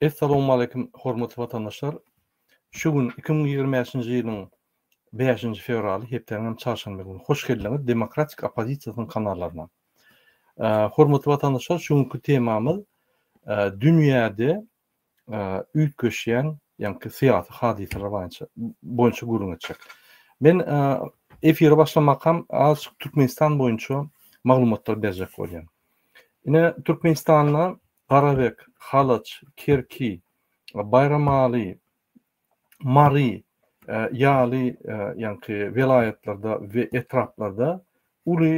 Essalawmaleýkim hormatly watandaşlar! Şu gün iki müň ýigrimi bäşinji ýylyň bäşinji fewraly, hepdäniň hem çarşenbe güni. Hoş geldiňiz Demokratik oppozisiýasynyň kanallaryna. Hormatly watandaşlar, şu günki temamyz dünýäde üýtgeşýän, ýaňky syýasy hadysalar boýunça boýunça gürrüň etjek. Men efire başlamakam azçyk Türkmenistan boýunça maglumatlar berjek bolýan. Ine Türkmenistanda Garabek, Halaç, Kerki, Baýramaly, Mary ýaly ýaňky welaýatlarda we etraplarda uly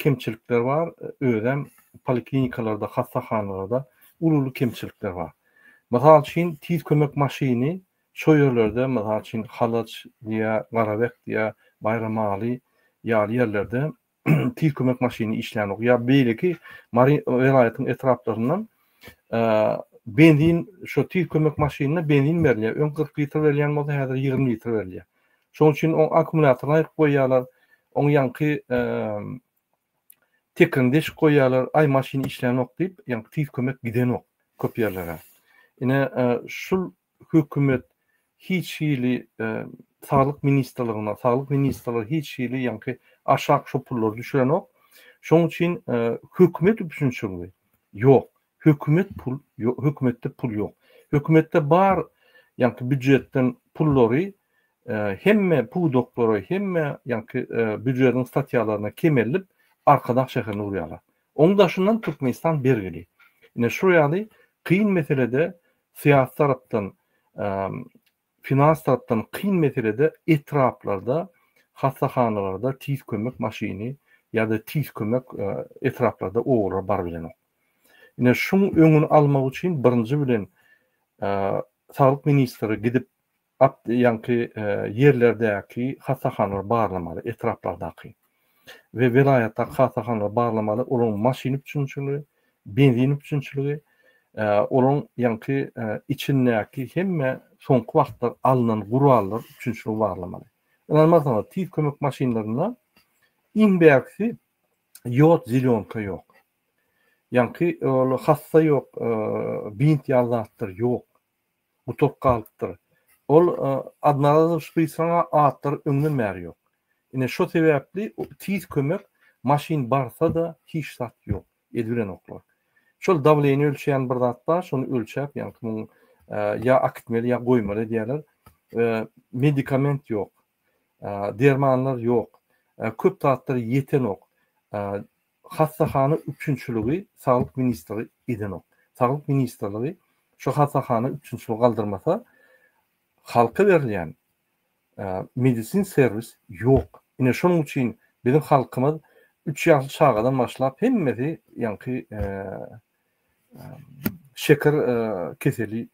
kemçilikler bar, özem poliklinikalarda, hassahanalarda uly-uly kemçilikler bar. Mysal üçin, tiz kömek maşyny şo ýerlerde, mysal üçin, Halaç diýä, Garabek diýä, Baýramaly ýaly ýerlerde tiz kömek maşyny işlänok. Ýa beýleki Mary welaýatyň etraplaryndan benzin şu tiz kömek maşynyna benzin berilýär. Öň 40 litr berilýän bolsa, häzir 20 litr berilýär. Şonuň üçin o akkumulýatoryny aýyp goýýarlar. Oň ýaňky tekini deşik goýýarlar. Aý maşyn işlänok diýip, ýaňky tiz kömek gidenok köp ýerlere. Ine şu hökümet hiç hili saglyk ministrligine, saglyk ministrligi hiç hili ýaňky aşak şo pullary düşürenok. Şoň üçin hökümet üpjünçiligi ýok. Hökümet pul, hökümetde pul ýok. Hökümetde bar ýaňky býujetden pullary hemme pudaklara, hemme ýaňky býujetiň statýalaryna kemelip, Arkadag şäherine urýarlar. Oň daşyndan Türkmenistan bergili. Ine şo ýaly kyn meselede syýasy tarapdan, finans tarapdan kyn meselede etraplarda, hassahanalarda tiz kömek maşyny ýa-da tiz kömek etraplarda obalara baryp bilenok. Ine, şuň öňüni almak üçin birinji bilen, saglyk ministri gidip, At ýaňky ýerlerdäki hassahanalary barlamaly, etraplardaky we welaýatdaky hassahanalary barlamaly, olaryň maşyn üpjünçiligi, benzin üpjünçiligi, olaryň ýaňky içindäki hemme soňky wagtlar alnan gurallar üpjünçiligi barlamaly. Ynanmarsyňyz, tiz kömek maşynlarynda iň bärkisi ýod zelýonka ýok. Ýaňky ol hassa ýok, bint ýaly zatlar ýok. gutulyp galypdyr. Ol Adnazar Sprysaňa atlary öňden bäri ýok. Ine şo sebäpli tiz kömek maşyn barsa-da hiç zat ýok, edibilenoklar. Şol dawleniýe ölçeýän bir zat bar, şony ölçäp ýaňky kimiň ýa akitmeli ýa goýmaly edýärler. Medikament ýok. Dermanlar ýok. Köp zatlar ýetenok. hassahana üpjünçiligi Saglyk ministri edenok. Saglyk ministrligi şu hassahana üpjünçiligi galdyrmasa, halka berilýän medisin serwis ýok. Ine şonuň üçin biziň halkymyz üç ýaşly çagadan başlap hemmesi ýaňky şeker keseli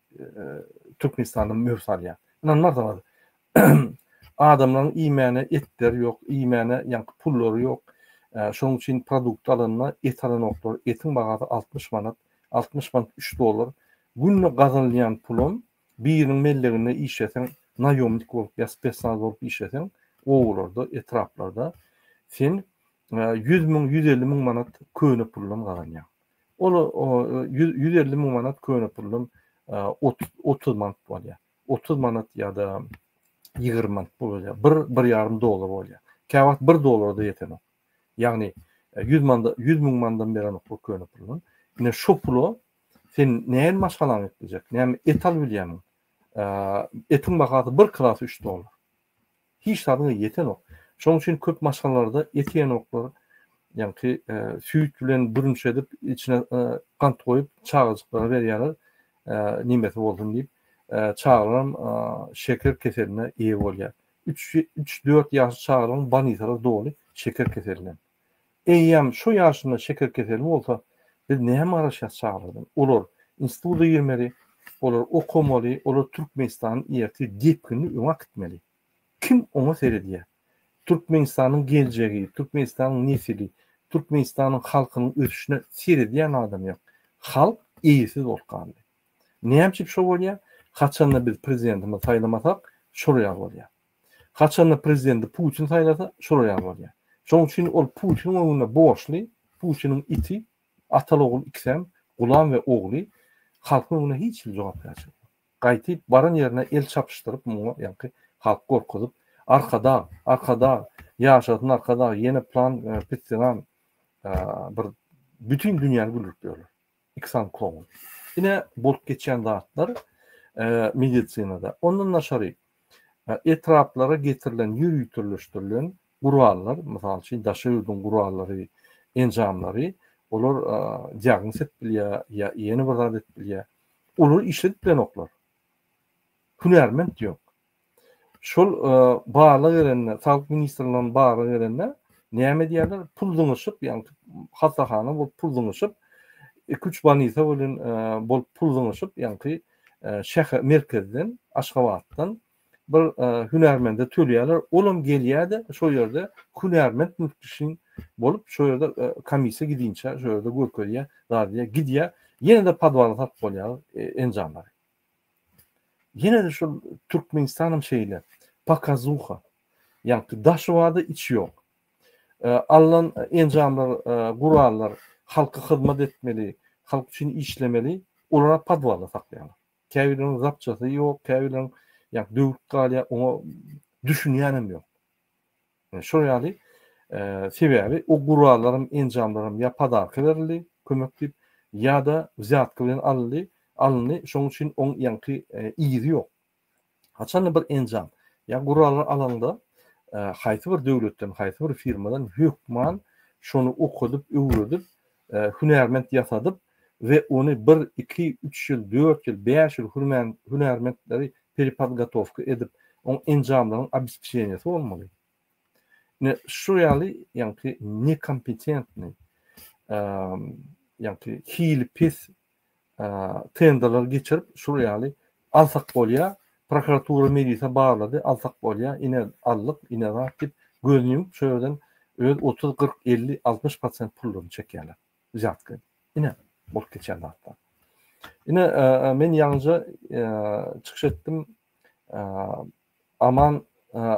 Türkmenistanda möwç alýar. Ynanmarsyňyz, adamlaryň iýmäne etleri ýok, iýmäne ýaňky pullary ýok. Şonuň üçin produkt alanda et alanoklar, etiň bahasy 60 manat, 60 manat 3 dollar. Günde gazanylýan pulum Biriniň melleginde işleseň, naýomnik bolup ýa spesnaz bolup işleseň, obalarda, etraplarda sen ýüz müň, ýüz elli müň manat köne puldan gazanýaň. Ol ýüz elli müň manat köne puldan otuz manat bolýar. Otuz manat ýa-da ýigrimi manat pul bolýar. Bir, bir ýarym dollar bolýar. Käwagt bir dollara-da ýetenok. Ýagny ýüz manada, ýüz müň manadan berenok bu köne puldan. Ine şu pula Sen näme maşgalaňy etmejek? Näme et alyp bilýäňmi? Etiň bahasy bir kilosy üç dollar. Hiç zadyňa ýetenok. Şonuň üçin köp maşgalalarda et ýenoklar, ýaňky e, süýt bilen bürünç edip, içine e, gant goýup, çagajyklara berýärler, e, nimesi bolsun diýip, çagalaram şeker keseline eýe bolýar. 3-4 ýaşly çagalaryň banitalar doly şeker keseline. Eýýäm şo ýaşynda şeker keseli bolsa, biz näme garaşýas çagalardan? Olar instituda girmeli, olar okamaly, olar Türkmenistany ertir depginli öňe äkitmeli. Kim oňa seredýär? Türkmenistanyň geljegi, Türkmenistanyň nesili, Türkmenistanyň halkynyň ösüşine seredýän adam ýok. Halk eýesiz bolup galdy. Näme üçin şo bolýar? Haçanda biz prezidentimizi saýlamasak, şol ýaly bolýar. Haçanda prezidenti Putin saýlasa, şolar ýaly bolýar. Şonuň üçin ol Putiniň öňünde borçly, Putiniň iti, atal-ogul ikisem, gulam we ogly, halkyň öňünde hiç hili jogapkärçilik ýok. Gaýtyp, baran ýerine el çapyşdyryp, muňa ýaňky halky gorkuzyp, Arkadag, Arkadag, ýaşasyn Arkadag, ýene plan, pisdiran bir bütin dünýäni güldürip ýörler. Iksan Kong. Ine bolup geçýän zatlar medisinada. Ondan daşary etraplara getirilen ýöriteleşdirilen gurallar, mysal üçin daşary ýurduň gurallary, enjamlary, olar diagnoz edip bilýär ýa ýene bir zat edip bilýär. Olary işledip bilenoklar. Hünärment ýok. Şol barlag gelende, Saglyk ministrligine barlag gelende, näme diýýärler, pul zyňyşyp, ýagny hassahana bolup pul zyňyşyp, iki-üç bolnisa bilen bolup pul zyňyşyp, ýagny şäher merkezden, Aşgabatdan bir hünärmende tölýärler, ol hem gelýär-de, şol ýerde hünärment müfetişiň bolup, şol ýerde komissiýa gidinçä, şol ýerde görkezýär, zat edýär, gidýär, ýene-de podwala satyp bolýar enjamlary. Ýene-de şol Türkmenistanam şeýle. Pokazuha. Ýagny daşy bar-da içi ýok. Alnan enjamlar, gurallar halka hyzmat etmeli, halk üçin işlemeli, olara podwalda saklaýarlar. Käbirleriň zapçasy ýok, käbirleriň ýa döwük galýar, oňa düşünýänem ýok. Şol ýaly, sebäbi o gurallarym, enjamlarym ýa podarka berildi, kömek diýip, ýa-da wzýatka bilen alyndy, alyndy, şonuň üçin oň ýaňky yzy ýok. Haçanda bir enjam ýa guraly alaňda, haýsy bir döwletden, haýsy bir firmadan hökman şony okadyp, öwredip, hünärment ýasadyp we ony bir, iki, üç ýyl, dört ýyl, bäş ýyl hürmän hünärmentleri perepodgotowka edip, oň enjamlaryň obespeçeniýesi bolmaly. Ine, şu ýaly, ýaňky nekompetentnyý, ýaňky hili pes tenderler geçirip şul ýaly alsak bolýar. Prokuratura milise barlady, alsak bolýar, ine aldyk, ine zat diýip gözüni ýumup şu ýerden öz 30-40-50-60 prosent pullaryny çekýärler. Zýatka. Ine bolup geçýän zatlar. Ine men ýalňyja çykyş etdim. Aman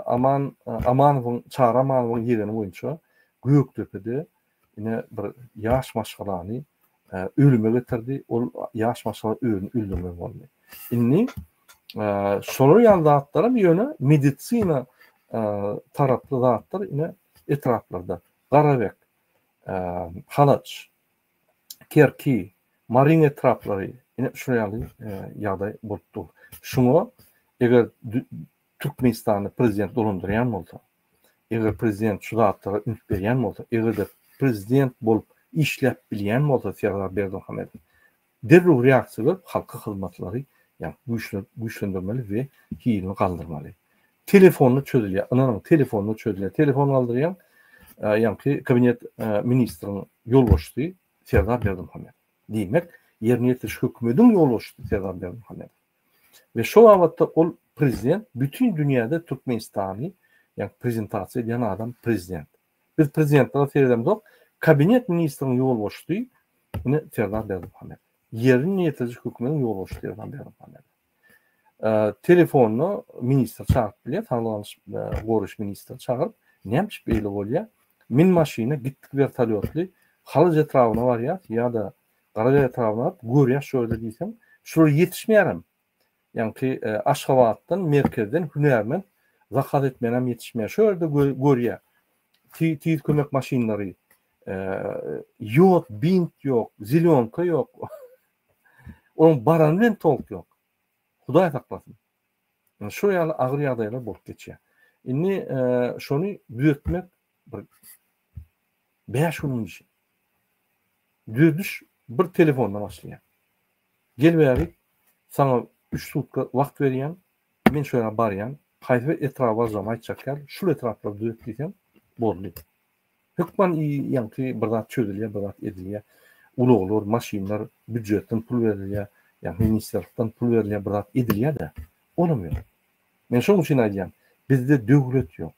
Aman Amanowyň Çary Amanowyň ýegeni boýunça Gökdepede ine bir ýaş maşgalany ölüme getirdi. Ol ýaş maşgala özüni öldürmeli boldy. Indi şolar ýaly zatlaram ýöne medisina taraply zatlar ine etraplarda Garabek, Halaç, Kerki, Maryň etraplary ine şu ýaly ýagdaý bolup dur. Şuňa eger Türkmenistanda prezident dolandyrýan bolsa, eger prezident şu zatlara üns berýän bolsa, eger-de prezident bolup işläp bilýän bolsa Serdar Berdimuhamedow, derrew reaksiýa berip, halka hyzmatlary ýa güýçlendirmeli we hilini galdyrmaly. Telefonda çözülýär. Ynanyň, telefonda çözülýär. Telefon galdyrýaň, ýaňky kabinet ministriniň ýolbaşçysy Serdar Berdimuhamedow. Diýmek, ýerine ýetiriş hökümetiň ýolbaşçysy Serdar Berdimuhamedow. We şo babatda ol prezident bütin dünýäde Türkmenistany ýaňky prezentasiýa edýän adam prezident. Biz prezidentlere seredemzok, kabinet ministriniň ýolbaşçysy ine Serdar Berdimuhamedow. Ýerine ýetiriş hökümetiň ýolbaşçysy Serdar Berdimuhamedow. telefonyna ministr çagyryp bilýär, saglygy goraýyş ministri çagyryp, näme üçin beýle bolýar? Min maşyna gitdik wertolýotly Halyç etrabyna barýas ýa-da Garajaý etrabyna görýär şu ýerde diýseň, şular ýetişmeýärem. Ýaňky e, Aşgabatdan, merkezden hünärmen zakaz etmenem ýetişmeýär. Şu ýerde görýär. Tiz kömek maşynlary, e, ýod, bint ýok, zelýonka ýok. Onuň barany bilen tolk ýok. Hudaý saklasyn. Ýa şu ýaly agyr ýagdaýlar bolup geçýär. Indi şony düzetmek bir 5 günüň işi. Düzediş bir telefonda başlaýar. Gel bäri, sana 3 sutka wagt berýän, men şu ýere barýan, haýsy bir etrap barjam aýtjak ýaly, şul etraplar düzet diýsem, boldy. Hökman i ýaňky bir zat çözülýär, bir zat edilýär. Ulaglar, maşynlar býujetden pul berilýär, ýa ministrlikden pul berilýär, bir zat edilýär-de, olam ýok. Men şonuň üçin aýdýan, bizde döwlet ýok.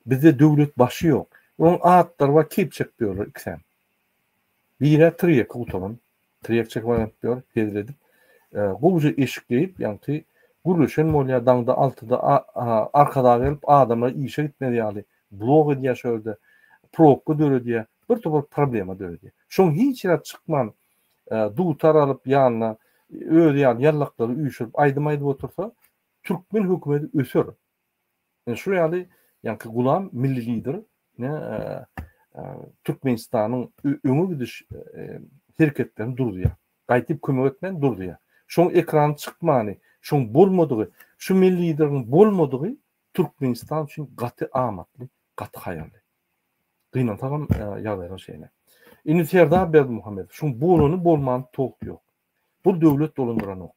Bizde döwlet başy ýok. Oň atlary bar, keýp çekip ýörler ikisem. Biri-ä tirýekki gutaran, Tiryýak çekip oýnadypdyr, hezledip. Gowja eşik geýip, ýaňky gürleşen bolýar, daňda altyda arkadag gelip, adamlar işe gitmez ýaly blok edýär şo ýerde, probka döredýär, bir topar problema döredýär. Şoň hiç ýere çykman, dutar alyp ýanyna özi ýaly ýallaklary üýşürip aýdym aýdyp otursa, türkmen hökümeti öser. Ine şu ýaly ýaňky gulam milli lider ne Türkmenistanyň öňe gidiş hereketlerini durdurýar. Gaýdyp kömek etmän durdurýar. Şoň ekrana çykmany, şoň bolmadygy, şu milli lideriň bolmadygy Türkmenistan üçin gaty amatly, gaty haýyrly. Gynansagam ýagdaýlar şeýle. Indi Serdar Berdimuhamedow şoň bolany bolmany towuk ýok. Bul döwlet dolandyranok.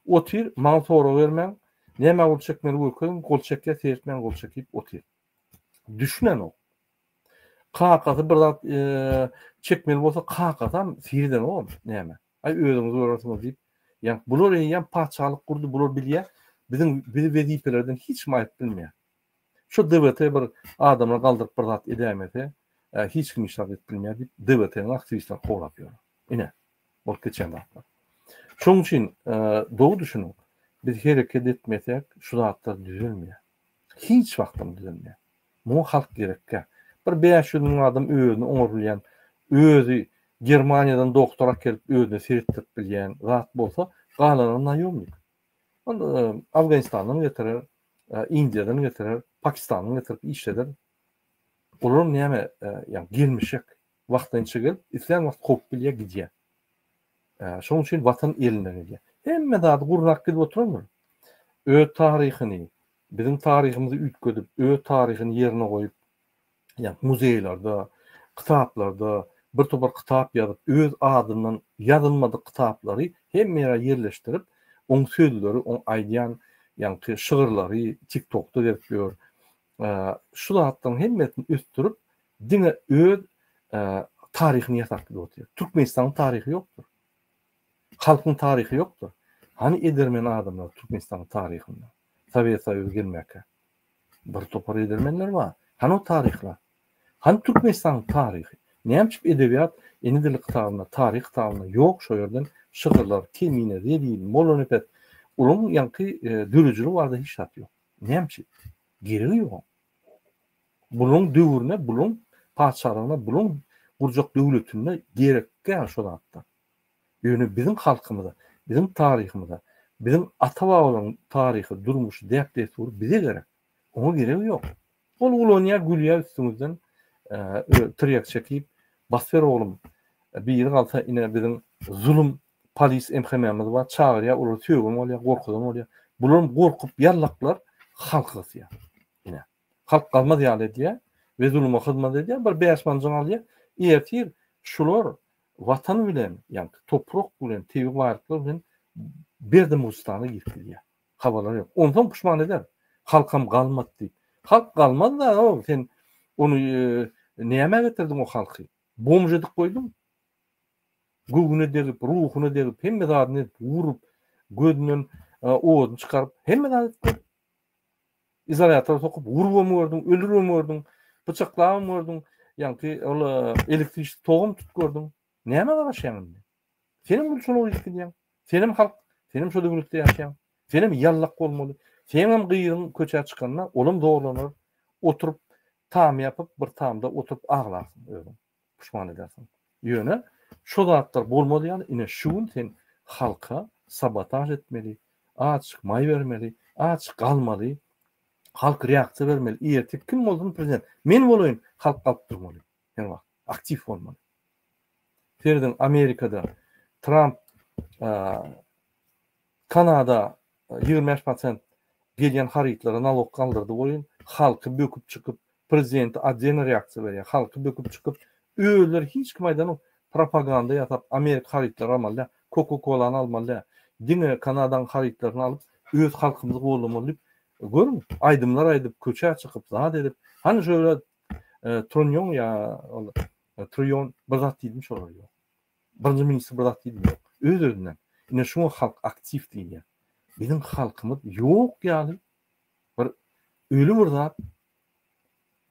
Otyr, maňa sorag bermäň, nämä gol çekmeli görkeziň, gol çekýä seretmäň gol çekip otyr. Düşünenok. Kakasy bir zat çekmeli bolsa kakasam seredenok näme. Aý özüňiz görersiňiz diýip. Ýa bular eýýäm patyşalyk gurdy, bular bilýä. Biziň bizi wezipelerden hiç kim aýyryp bilmeýä. Şu DWT bir adamlar galdyryp bir zat edäýmese, hiç kim hiç zat edip bilmeýär diýip, DWT-niň aktiwistleri kowlap ýör. Ine, bolup geçen zatlar. Şonuň üçin doly düşüniň, biz hereket etmesek, şu zatlar düzelmeýär. Hiç wagtam düzelmeýär. Muňa halk gerekkä? Bir bäş ýüz müň adam özüni oňarylýan, özi Germaniýadan doktor akelip özüne seretdirip bilýän zat bolsa, galanlary naýomnik. Ol Afganistandan getirer, Indiýadan getirer, Pakistandan getirip işleder. Olar näme, ýa gelmişek, wagtynça gelip, islän wagt kowup bilýär, gidýär. Şonuň üçin watan elinden gelýär. Hemme zady gurnap gidip oturandyr. Öz taryhyny, biziň taryhymyzy üýtgedip, öz taryhyny ýerine goýup, ýa-da muzeýlerde, kitaplarda bir topar kitap ýazyp, öz adyndan ýazylmadyk kitaplary hemme ýere ýerleşdirip, oň sözleri, oň aýdýan ýaňky şygyrlary TikTokda gezip ýör. Şu zatlaryň hemmesini ösdürip, diňe öz taryhyny ýasap gidip otyr. Türkmenistanyň taryhy ýokdur. Halkyň taryhy ýokdur. Hany edermen adamlar Türkmenistanyň taryhynda? Sowet Soýuzy gelmäkä. Bir topar edermenler bar. Hany o taryhlar? Hany Türkmenistanyň taryhy? Nämçip edebiýat ene dili kitabyna, taryh kitabyna ýok şo ýerden şygyrlar, Kemine, Zelil, Mollanepes. Olaryň ýaňky döredijiligi barada hiç zat ýok. Nämçip? Geregi ýok oň. Bularyň döwrüne, bularyň patyşalygyna, bularyň gurjak döwletinde gerek däl şo zatlar. Ýöne biziň halkymyza, biziň taryhymyza, biziň ata-babalaryň taryhy, durmuşy, däp-dessury bize gerek. Oňa geregi ýok. Ol ulanýar, gülýär üstüňizden, tirýek çekip, Basber oglum, biri galsa ine biziň zulum polis MHM-miz bar, çagyrýar, olary sögen bolýar, gorkuzan bolýar. Bularam gorkup ýallaklar, halky gysýar. Ine. Halk galmaz ýaly edýär we zuluma hyzmat edýär, bir bäş manjyň alýar. Ertir şular Watan bilen, ýagny toprak bilen, tebigy baýlyklar bilen Berdimuhamedistana girip gidýär. Habarlary ýok. Onsoň puşman eder. Halkam galmady diýip. Halk galmaz da, ow, sen ony nämä getirdiň o halky? Bomž edip goýduň. Göwnüne degip, ruhuna degip, hemme zadyny edip, urup, gözünden oduny çykaryp, hemme zady etdiň. Izolýator sokup urubam gördüm, ölürem gördüm, pyçaklabam gördüm. Ýaňky ol elektrişni togum tutup gördüm. Näme garaşýaň indi? Senem bu şola uýup gidýäň. Senem halk, senem şo döwletde ýaşaýaň. Senem ýallak bolmaly. Senem gyzyň köçä çykanda olam zorlanar. Oturyp tam ýapyp bir tamda oturyp aglarsyň özüň. puşman edersiň. Ýöne şo zatlar bolmaz ýaly ine şu gün sen halka sabotaž etmeli, azjyk maý bermeli, aç galmaly, halk reaksiýa bermeli, ýertik kim bolsun prezident, men bolaýyn, halk galyp durmaly, her wagt aktiw bolmaly. Serediň Amerikada Tramp Kanada ýigrimi bäş prosent gelýän harytlara nalok galdyrdy boýun halky böküp çykyp prezidenti otdena reaksiýa berýär halky böküp çykyp özleri hiç kim aýdanok propaganda ýasap amerika harytlary almaly däl koko kolany almaly däl diňe kanadaň harytlaryny alyp öz halkymyzy goldamaly diýip görüň aýdymlar aýdyp köçä çykyp zat edip hany şöyle trunýoň ýa ol truýon bir zat diýdim şolar ýok. Birinji ministr bir zat diýdi ýok. Öz özünden. Ine şuňa halk aktiw diýilýär. Biziň halkymyz ýok ýaly bir öli bir zat.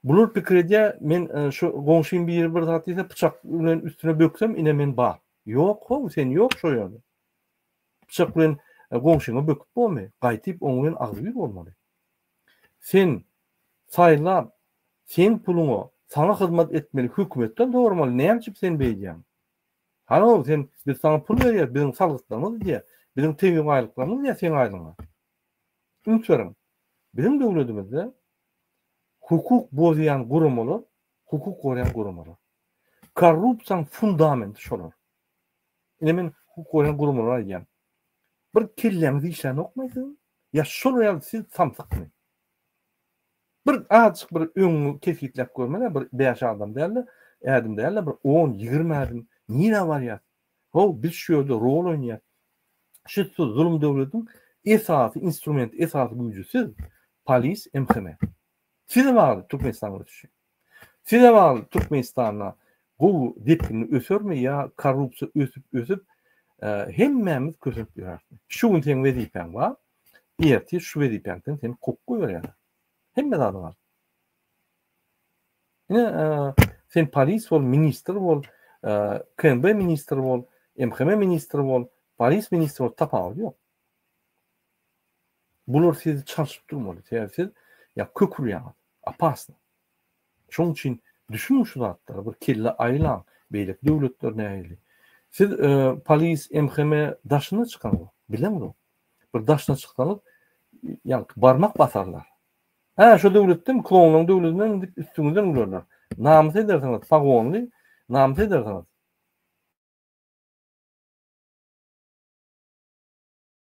Bular pikir edýär men şu goňşym biri bir zat diýse pyçak bilen üstüne böksem ine men bar. Ýok how sen ýok şo ýerde. Pyçak bilen goňşyňa böküp bolmy? Gaýtyp oňa bilen agzybir bolmaly. Sen saýlap seň puluňa saňa hyzmat etmeli hökümetden soramaly näme üçin sen beýdýäň. Halo sen biz saňa pul berýäs biziň salgytlarymyz gidýär biziň tebigy baýlyklarymyz gidýär seň aýlygyňa. Üns beriň biziň döwledimizde hukuk bozýan guramalar hukuk gorýan guramalar. Korrupsiýaň fundamenti şolar. Ine men hukuk gorýan guramalara aýdýan. Bir kelläňiz işlänokmy siziň? Ýa şol ýaly siz samsykmy? Bir azjyk bir öňüňi kesgitläp görmene bir bäş adam dälde, ädim dälde bir on, ýigrimi ädim nirä barýas? Haw biz şu ýerde rol oýnaýas. Şu siz zulum döwlediň esasy instrumenti, esasy güýji siz, polis, MHM. Size bagly Türkmenistan ösüşi. Size bagly Türkmenistanda gowy depginli ösermi ýa korrupsiýa ösüp ösüp hemmämiz kösenip ýöräsmi. Şu gün seň wezipäň bar, ertir şu wezipäňden seni kowup goýberýärler. Hemme zady bar. Ine sen polis bol, ministr bol, KMB ministri bol, MHM ministri bol, polis ministri bol tapawudy ýok. Bular sizi çalşyp durmaly. Sebäbi siz ýa kök urýaňyz. Opasny. Şoň üçin düşüniň şu zatlara, bir kelle aýlaň. Beýleki döwletler nähili? Siz polis, MHM daşyna çykyňyzok. Bileňizok. Bir daşyna çyksaňyz, ýaňky barmak basarlar. Hä, şu döwletdemi? Klonlaryň döwletinden diýip üstüňizden gülerler. Namys edersiňiz, pagonly, namys edersiňiz.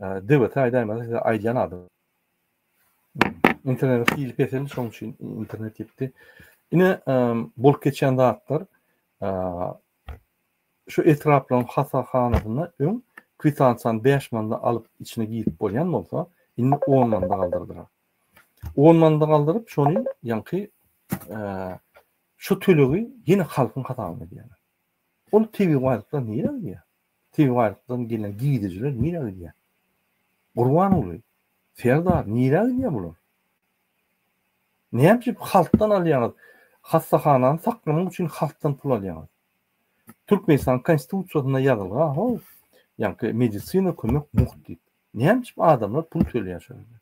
Dewete aýdaýmaly size aýdýan adam. Internet hili peseldi, şoň üçin internet gitdi. Ine bolup geçen zatlar şu etraplaryň hasahanasynda öň kwitansiýany 5 manda alyp içine girip bolýan bolsa, indi 10 manda galdyrdylar. 10 manda galdyryp, şony ýaňky şu tölegi ýene halkyň hasabyna edýärler. Ol tebigy baýlyklar nirä gidýär? Tebigy baýlykdan gelen gidijiler nirä gidýär? Gurbanguly, Serdar nirä gidýär bular? Näme üçin halkdan alýaňyz? Hassahanany saklamak üçin halkdan pul alýaňyz. Türkmenistanyň Konstitusiýasynda ýazylga, how, ýaňky medisina kömek mugt diýip. Näme üçin adamlar pul tölýär şol ýerde?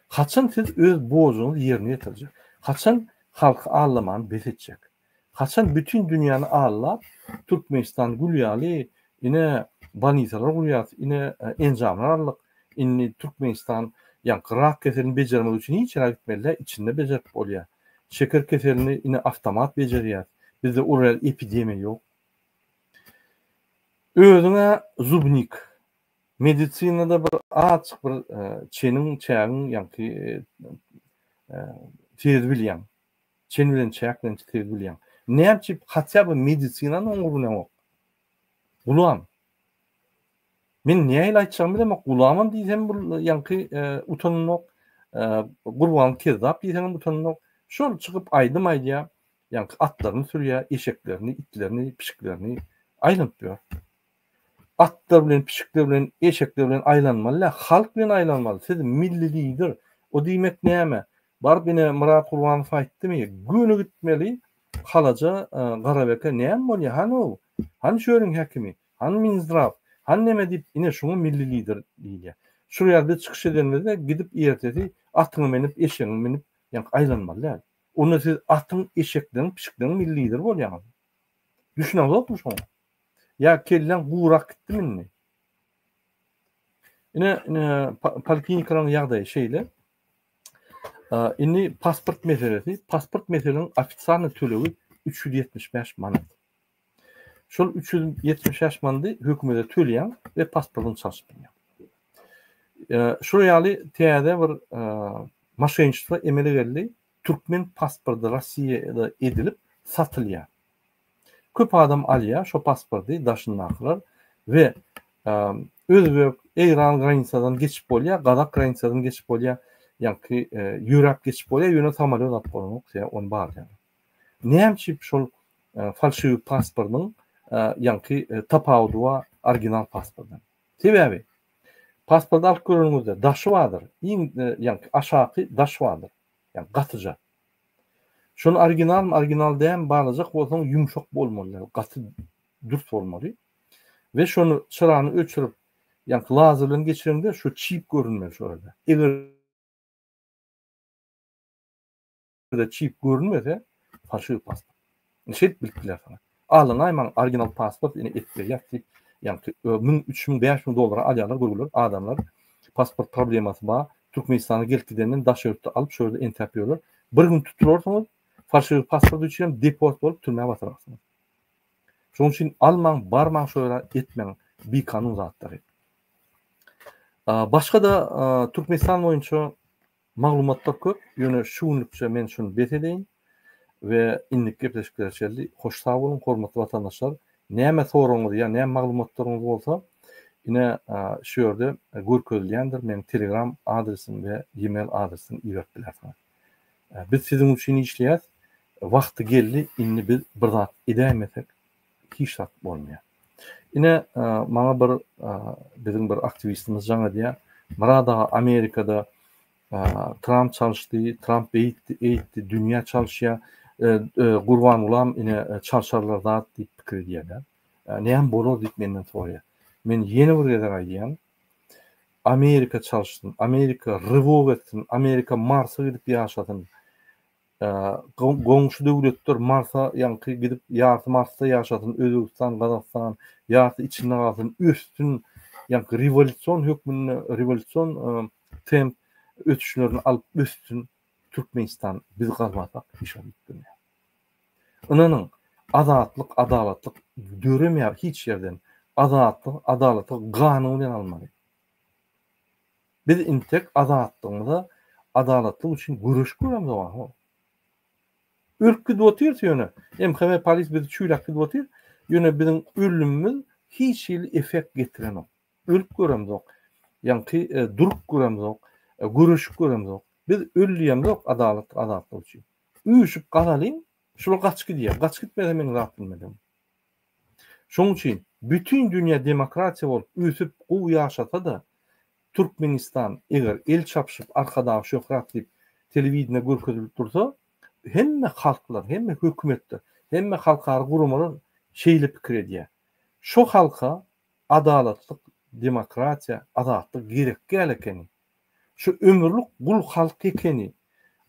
Haçan siz öz borjuňyzy ýerine ýetirjek? Haçan halky allamany bes etjek? Haçan bütin dünýäni allap, Türkmenistan gül ýaly, ine, bolnitsalar gurýas, ine, enjamlar aldyk, indi Türkmenistan, ýaňky rak keselini bejermek üçin hiç ýere gitmeli-dä, içinde bejerip bolýar. Şeker keselini indi awtomat bejerýär. Bizde uly epidemiýa ýok. Özüň-ä zubnik. Medisinada bir azjyk bir çeniň çägiň ýaňky tiz bilýäň. Çen bilen çäk bilen tiz bilýäň. Näme üçin hatýa bir medisinany oňur bileňok. Gulam. Men nähili aýtjagymy bilemok. Gulamam diýsem bul ýaňky utanynok. Gurban kezzap diýseňem utanynok. Şol çykyp aýdym aýdýa. Ýaňky atlaryny sürýä, eşeklerini, itlerini, pişiklerini aýlanyp ýör. Atlar bilen pişikler bilen eşekler bilen aýlanmaly däl halk bilen aýlanmaly siz milli lider o diýmek näme baryp ine Myrat Gurbanow aýtdymy göni gitmeli halaja Garabeke näme bolýa hany o hany şu ýeriň häkimi hany Minzdraw hany neme diýip ine şuňa milli lider diýilýä şu ýerde çykyş edenimizde gidip ertesi atyňy menip eşegiňi minip ýaňky aýlanmaly däl onda siz atyň eşekleriň pişikleň milli lider bolýaňyz düşüneňzokmy şoňa. Ýa kelläň gurak gitdimi indi? Ine, poliklinikalaryň ýagdaýy şeýle. Indi pasport meselesi, pasport meselesiniň ofisialny tölegi 375 manat. Şol 375 manady hökümete töleýäň we pasportyňy çalşyp bilýäň. Şol ýaly täze bir maşenniçelik emele geldi. Türkmen pasporty Rossiýada edilip satylýar. Köp adam alýar şo pasporty daşyndakylar we özbek, eýran granisadan geçip bolýar, gazak granisadan geçip bolýar, ýaňky ýöräp geçip bolýar, ýöne samalýot alyp bolanok, sebäbi ony barlaýar. Näme üçin şol falşiwi pasportyň ýaňky tapawudy bar original pasportdan? Sebäbi pasporty alyp göreniňizde daşy bardyr, iň ýaňky aşaky daş bardyr, ýaňky gatyja. Şol originalmy original dälmi barlajak bolsaň ýumşak bolmaly gaty dürs bolmaly we şony çyrany öçürip ýaňky lazer bilen geçireňde şu çip görünmeli şu ýerde eger çip görünmese falşiw pasport. Şeýdip bilip bilersiň. Alyngaý maň original pasport ine edip berýäs diýip, ýaňky müň, üç müň, bäş müň dollara alýarlar görgüler adamlar. Pasport problemasy bar. Türkmenistana gelip gidenden daş ýurtda alyp şu ýerde entäp ýörler. Bir gün tutularsyňyz, falşiwi pasport üçinem deport bolup türmä batylarsyňyz. Şonuň üçin almaň, barmaň şu ýere etmäň bikanun zatlary. Başga-da Türkmenistan boýunça Maglumatlar köp, ýöne şu günlükçe men şuny bes edeýin we indiki gepleşiklere çenli hoş sag boluň, hormatly watandaşlar! Näme soragyňyz ýa näme maglumatlaryňyz bolsa, ine, şu ýerde görkezilýändir, meniň telegram adresim we ýe-mail adresimi iberip bilersiňiz. Biz siziň üçin işleýäs, wagty geldi, indi biz bir zat edäýmesek, hiç zat bolmaýar. Ine, maňa bir biziň bir aktiwistimiz jaň edýär. Murad aga, Amerikada Tramp çalyşdy, Tramp beýtdi, eýtdi, dünýä çalyşýar. Gurbangulam ine çalşarlar zat diýip pikir edýärler. Näme bolar diýip menden soraýar. Men ýene bir gezek aýdýan, Amerika çalyşsyn, Amerika rywok etsin, Amerika Marsa gidip ýaşasyn. Goňşy döwletler Marsa ýaňky gidip ýarty Marsda ýaşasyn Özbegistan Gazagystan ýarty içinde galsyn össün ýaňky rewolýusion hökmünde rewolýusion temp ösüşlerini alyp össün Türkmenistan biz galmasak hiç zat üýtgemeýär. Ynanyň azatlyk adalatlyk döremeýär hiç ýerden azatlyk adalaty ganyň bilen almaly. Biz intek azatlygymyza adalatlyk üçin göreşip göremizok aho. Ölüp gidip otyrys ýöne MHM polis bizi çüýläp gidip otyr, ýöne biziň ölümimiz hiç hili effekt getirenok. Ölüp göremizok. Ýaňky durup göremizok. Göreşip göremizok. Biz öldüýemizok adalatlyk azatlyk üçin. Üýşüp galalyň, şular gaçyp gidýär. Gaçyp gitmese meň zat bilmedigiň. Şonuň üçin bütin dünýä demokratiýa bolup ösüp gowy ýaşasa-da, Türkmenistan eger el çapyşyp Arkadag şöhrat diýip telewideniýede görkezilip dursa, hemme halklar, hemme hökümetler, hemme halkara guramalar şeýle pikir edýär. Şo halka adalatlyk, demokratiýa, azatlyk gerekgäl ekeni. Şu ömürlik gul halk ekeni.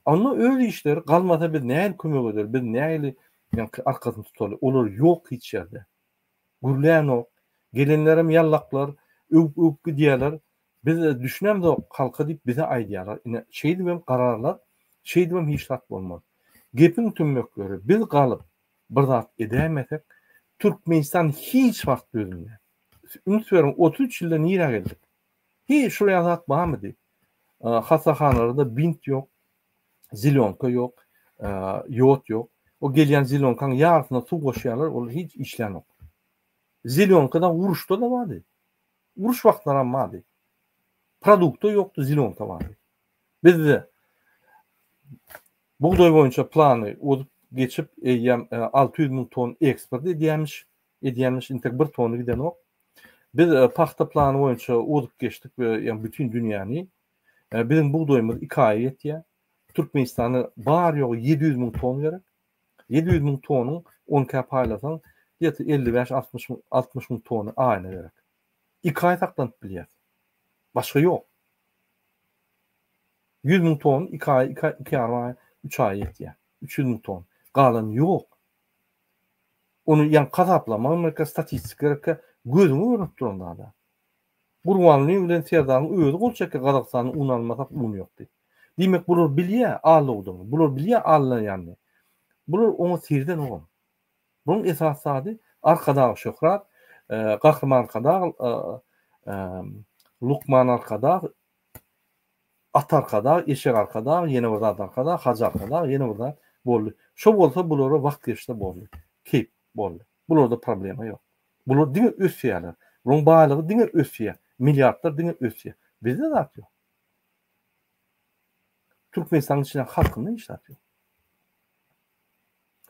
Onda öz işleri galmasa biz nähili kömek eder, biz nähili arkasyny tutaly. Olar ýok hiç ýerde. Gürlänok. Gelenlerem ýallaklar, öwüp-öwüp gidýärler. Biz düşünemzok halka diýip bize aýdýarlar. Ine, şeýdibem gararlar, şeýdibem hiç zat bolmaz. Gepiň tümmekleri, biz galyp bir zat edäýmesek, Türkmenistan hiç wagt düzülmez. Üns beriň, otuz üç ýylda nirä geldik? Hi, şulaýan zat barmy diýip. Hassahanalarda bint ýok, zilonka ýok, ýod ýok. O gelýän zilonkaň ýarysyna suw goşýarlar, ol hiç işlänok. Zilonka-da uruşda-da bardy. Uruş wagtlary hem bardy. Produkta ýokdy, zilonka bardy. Bizde bugdaý boýunça plany ozup geçip, eýýäm 600 müň ton eksport edýämiş, edýämiş, intek bir tony gidenok. Biz pagta plany boýunça ozup geçdik we ýa bütin dünýäni. Biziň bugdaýymyz iki aýa ýetýär. Türkmenistana bary ýogy ýedi ýüz müň ton gerek. Ýedi ýüz müň tonyň on kä paýlasaň, diýeti elli bäş, altmyş müň, altmyş müň tony aýna gerek. Iki aý saklanyp bilýär. Başga ýok. Ýüz müň ton iki aý, iki ýarym aý, üç aý ýetýär. Üç ýüz müň ton. Galany ýok. Ony ýa hasaplaman gerek, statistika gerek, gözüňe görnüp duran zada. Gurbanlyň bilen Serdaryň özi gol çekýär, Gazagystany un almasak un ýok diýip. Diýmek bular bilýär allow-dygyny, bular bilýär alynýanyny. Bular oňa seredenogam. Bunuň esas zady Arkadag Şöhrat, Gahryman Arkadag, Lukman Arkadag, Atarkadag, Eşegarkadag, ýene bir zat Arkadag, Hajyarkadag, ýene bir zat, boldy. Şo bolsa bulara wagt geçse boldy. Keýp, boldy. Bularda problema ýok. Bular diňe ösýärler. Bularyň baýlygy diňe ösýär. Milliardlar diňe ösýär. Bizde zat ýok. Türkmenistanyň içindäki halkynda hiç zat ýok.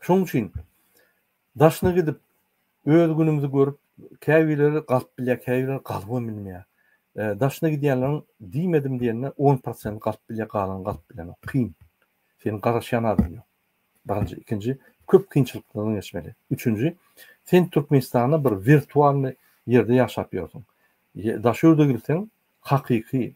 Şonuň üçin daşyna gidip, öz günümizi görüp, käbirleri galyp bilýär, käbirleri galybam bilmeýär. Daşyna gidýänleriň diýmedim diýende on prosenti galyp bilýär, galany galyp bilenok. Kyn. Seniň garaşýan adam ýok. Birinji, ikinji, köp kynçylyklardan geçmeli. Üçünji, sen Türkmenistanda bir wirtualnyý ýerde ýaşap ýörsüň. Daşöwrüde girseň, hakyky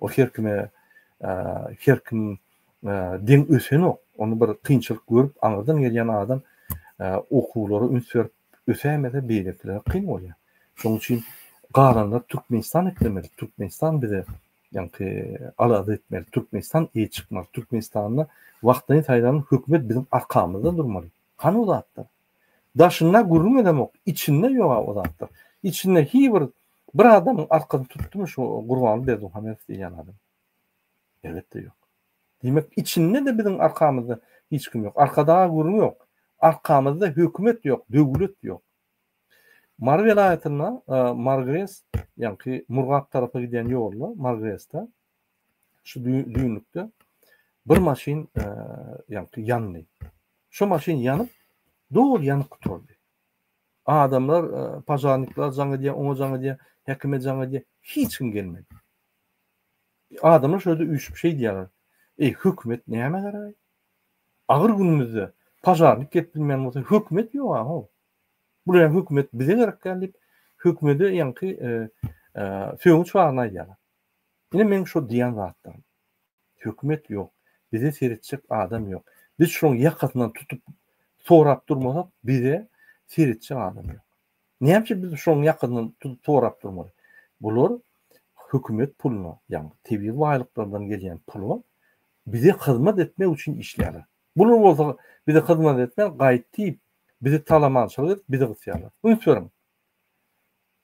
Ol her kime, her kim deň ösenok. Ony bir kynçylyk görüp, aňyrdan gelýän adam okuwlara üns berip ösäýmese, beýlekilere kyn bolýar. Şonuň üçin galanlar Türkmenistan eklemeli, Türkmenistan bize ýaňky alada etmeli, Türkmenistan eýe çykmaly, Türkmenistanda wagtlaýyn saýlanan hökümet biziň arkamyzda durmaly. Hany bu zatlar? Daşynda gürrüň edemok, içinde ýog-a o zatlar. Içinde hi bir bir adamyň arkasyny tutdumy şu Gurbanguly Berdimuhamedow diýýän adam? Elbetde ýok. Diýmek, içinde-de biziň arkamyzda hiç kim ýok. Arkadaga gürrüň ýok. Arkamyzda hökümet ýok, döwlet ýok. Mary welaýatynda Margres, ýaňky Murgap tarapa gidýän ýolda, Margresde şu düýnlükde bir maşyn e, ýandy. Şu maşyn ýanyp, dol ýanyp gutardy. Adamlar, e, pažarnikler jaň edýär, oňa jaň edýär, hekime jaň edýär, hiç kim gelmedi. Adamlar şöyle üýşüp şey diýýärler. Ey hökümet näme garaý? Agyr günümizde pažarnik gelip bilmän bolsa hökümet ýok ha. Bular hökümet bize gerek diýip hökümete ýaňky e, e, sögüç barna aýdýarlar. Ine meň şo diýen zatlarym. Hökümet ýok, bize seretjek adam ýok. Biz şolaň ýakasyndan tutup sorap durmasak, bize seretjek adam ýok. Näme üçin biz şolaň ýakasyndan tutup sorap durmaly? Bular hökümet puluna, ýagny tebigy baýlyklardan gelýän pula bize hyzmat etmek üçin işleýärler. Bular bolsa bize hyzmat etmän gaýt diýip, bizi talamançylyk edip, bizi gysýarlar. Üns beriň!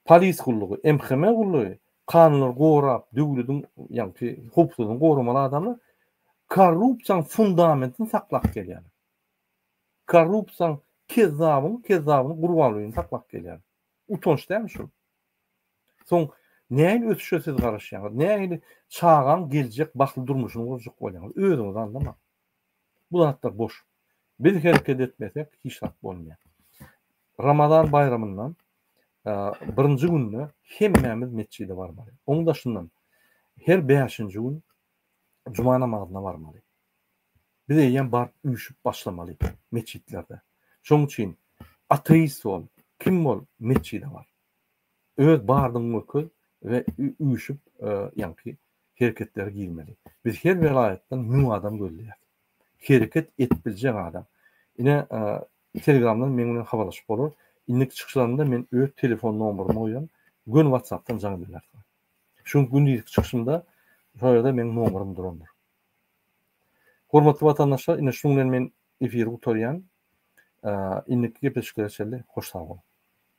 Polis gullugy, MHM gullugy, kanunlary gorap, döwlediň, ýagny howpsuzlygyny goramaly adamlar korrupsiýanyň fundamentini saklap gelýärler. Korrupsiýanyň kezzabyň kezzabyny gurbanlygyny saklap gelýärler. Utanç dälmi şu? Soň nähili ösüşe siz garaşýaňyz? Nähili çagaň geljek bagtly durmuşyny gurjak bolýaňyz? Özüňizi aňlaň. Bu zatlar boş. Biz hereket etmesek hiç zat bolmaýar. Ramazan baýramyndan birinji günde hemmämiz metjide barmaly. Oň daşyndan her bäşinji gün juma namazyna barmaly. Biz eýýäm baryp üýşüp başlamaly metjitlerde. Şoň üçin ateist bol, kim bol metjide bar. öz bardygyňy görkez we üýşüp ýaňky hereketleri girmeli. Biz her welaýatdan müň adam gözleýäs. Hereket edip biljek adam. Ine telegramdan meň bilen habarlaşyp bolar. Indiki çykyşlarymda men öz telefon nomerymy goýan, göni watsapdan jaň edilersiňiz. Şu gündizki çykyşymda şol ýerde meň nomerym durandyr. Hormatly watandaşlar, ine şunuň bilen men efiri gutarýan. Indiki gepleşiklere çenli hoş sag boluň.